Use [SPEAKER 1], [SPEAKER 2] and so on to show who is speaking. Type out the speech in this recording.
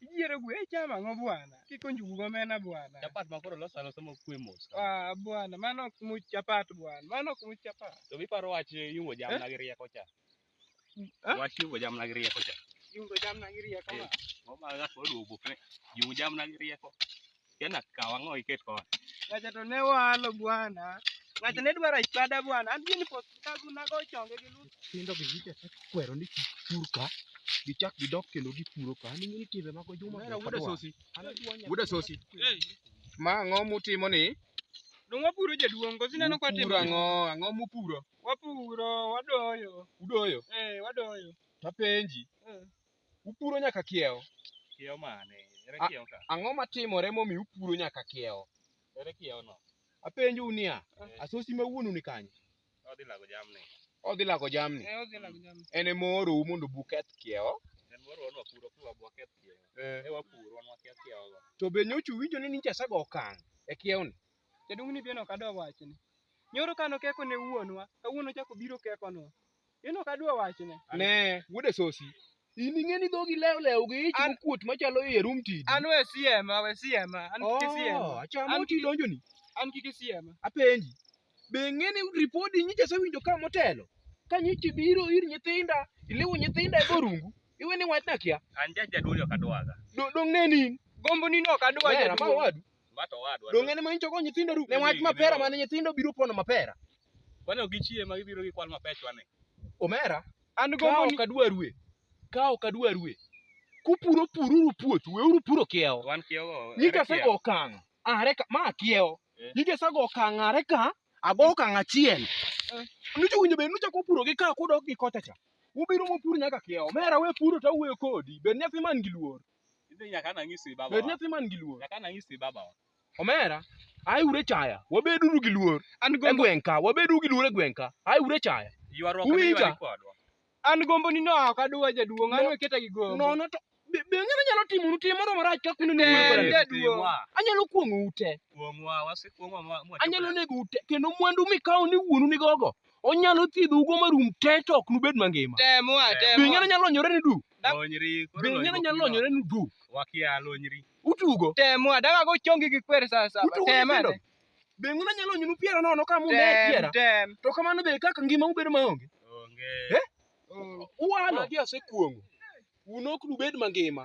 [SPEAKER 1] Ijiere gwe chama
[SPEAKER 2] ngo bwana. Kiko njugu go mena bwana. Chapat ma koro losa losa
[SPEAKER 1] mo kwe mos. Ah bwana, mano
[SPEAKER 2] ok much chapat bwana. Mano ok much chapat. To mi paro wach
[SPEAKER 1] yungo jamna eh? gi rieko cha. Wach yugo jamna gi rieko cha. Yugo jamna gi
[SPEAKER 2] rieko. Eh, Mama ga ko
[SPEAKER 1] duo bukne. Yugo jamna gi rieko. Kena kawa ngo iket ko. Ngacha to ne
[SPEAKER 2] walo bwana. Ngacha ne dwara ipada bwana. An gini pot ka guna go chonge gi lu. Tindo gi jite
[SPEAKER 3] kwero ni pur ka. Gichak gidok kendo gipuro ka. Ni ni timbe mago juma. Mera wuda sosi.
[SPEAKER 1] Wuda sosi. Eh. Ma
[SPEAKER 3] ngo mutimo ni? Dongo puro
[SPEAKER 2] jaduong' kosineno kwa timo. Puro ngo, ngo mupuro.
[SPEAKER 3] Wapuro,
[SPEAKER 2] wadoyo. Udoyo? Eh, wadoyo. Tapenji.
[SPEAKER 3] Eh. Upuro nyaka kiewo. Kiewo mane?
[SPEAKER 1] Ere kiewo ka? Ang'o matimore momi
[SPEAKER 3] upuro nyaka kiewo? Ere kiewo no?
[SPEAKER 1] Apenju niya,
[SPEAKER 3] eh. asosi ma wuonu ni kanye? Odhi lago jamni.
[SPEAKER 1] Odhi lago jamni.
[SPEAKER 3] Eh, odhi lago jamni. En ema oorou mondo buketh kiewo. En moro wan wapuro
[SPEAKER 1] kwa bwaketh kiewo. Eh. E wapuro wan waketh kiewo go. To be nyocha uwinjo
[SPEAKER 3] ni nicha sago okang' e kiewo ni? Jaduong' ni bende ok
[SPEAKER 2] adwa wachne. Nyoro kano keko ne wuonwa, kawuono chako biro kekonwa. Bende ok adwa wachne. Ne, wuode
[SPEAKER 3] sosi. In ing'e ni dhogi lew lew gi ich An- mokuot machalo iye rum tidi. An we siema,
[SPEAKER 2] we siema. An kik Oh, siema. achamo An- ti donjo ni.
[SPEAKER 3] An kik siema.
[SPEAKER 2] Apenji.
[SPEAKER 3] Be ing'e ni ripodi nyicha asewinjo ka motelo? Ka nyicha ibiro ir nyithinda, iliwo nyithinda e borungu, iwe ni wachna kia. An ja jaduong' ok adwaga.
[SPEAKER 1] Do- Dong' ne nin.
[SPEAKER 3] Gombo ni no ok adwa
[SPEAKER 2] Wera, ma jaduong'. wadu.
[SPEAKER 3] Bato wadwa. Donge
[SPEAKER 1] ne ma inchogo nyithindo
[SPEAKER 3] ru? Ne wach mapera mane nyithindo biro pono mapera. Kwani ok gichie
[SPEAKER 1] ma gibiro gi kwal mapechwa ni. Omera,
[SPEAKER 3] an go ka ok
[SPEAKER 2] adwa rue.
[SPEAKER 3] Ka ok adwa rue. Kupuro pururu puothu, weuru puro kiewo. Wan kiewo. Nyika
[SPEAKER 1] sego okang'.
[SPEAKER 3] Are ka ma kiewo. Eh. Nyika sego okang' are ka ago okang' achiel. Eh. Nucho winjo be nucho kupuro gi ka kudok gi kocha cha. Ubiro mopur nyaka kiewo. Omera we puro to awuoyo kodi. Be nyathi man gi luor. Inbe nyaka ana ng'isi
[SPEAKER 1] Bed baba. nyathi man gi luor. Nyaka
[SPEAKER 3] ana ng'isi baba.
[SPEAKER 1] Omera,
[SPEAKER 3] ae ure chaya. Wabeduru gi luor An e gombo gweng' ka. Wabedu gi luor e gweng' ka. Ae ure chaya. Ywaruok Uwinja? miywarie
[SPEAKER 1] kodwa. an gombo ni
[SPEAKER 2] no ok aduwa jaduong', an No. weketa gi gombo. Nono to be be ng'ano
[SPEAKER 3] nyalo timo nu tim moro marach ka kuno ni Ber, mwandu. ber. Timwa. Anyalo
[SPEAKER 2] kuong'o
[SPEAKER 3] ute. Kuong'wa, wasekuong'wa mwa- mwa-
[SPEAKER 1] Anyalo nego
[SPEAKER 3] ute kendo mwandu mikawo ni wuonu ni gogo. onyalo thiedho ugo marum te to ok nubed mangima Temo a be temo. ing'eno
[SPEAKER 2] nyalo lonyore
[SPEAKER 3] ni du Lonyri. koro be ing'eno lonyruok
[SPEAKER 1] nyalo biro. lonyore
[SPEAKER 3] ni du Wakia lonyri.
[SPEAKER 1] utugo Temo
[SPEAKER 3] a daga go
[SPEAKER 2] chongi gi kwer saa saba. Utugo Temo a nyithindo? te. be ing'eno
[SPEAKER 3] nyalo lonyonu piera nono ka munde Tem piera tem. to kamano be kaka ngima ubedo maonge Onge. uwalo magi osekuong'o un ok nubed mangima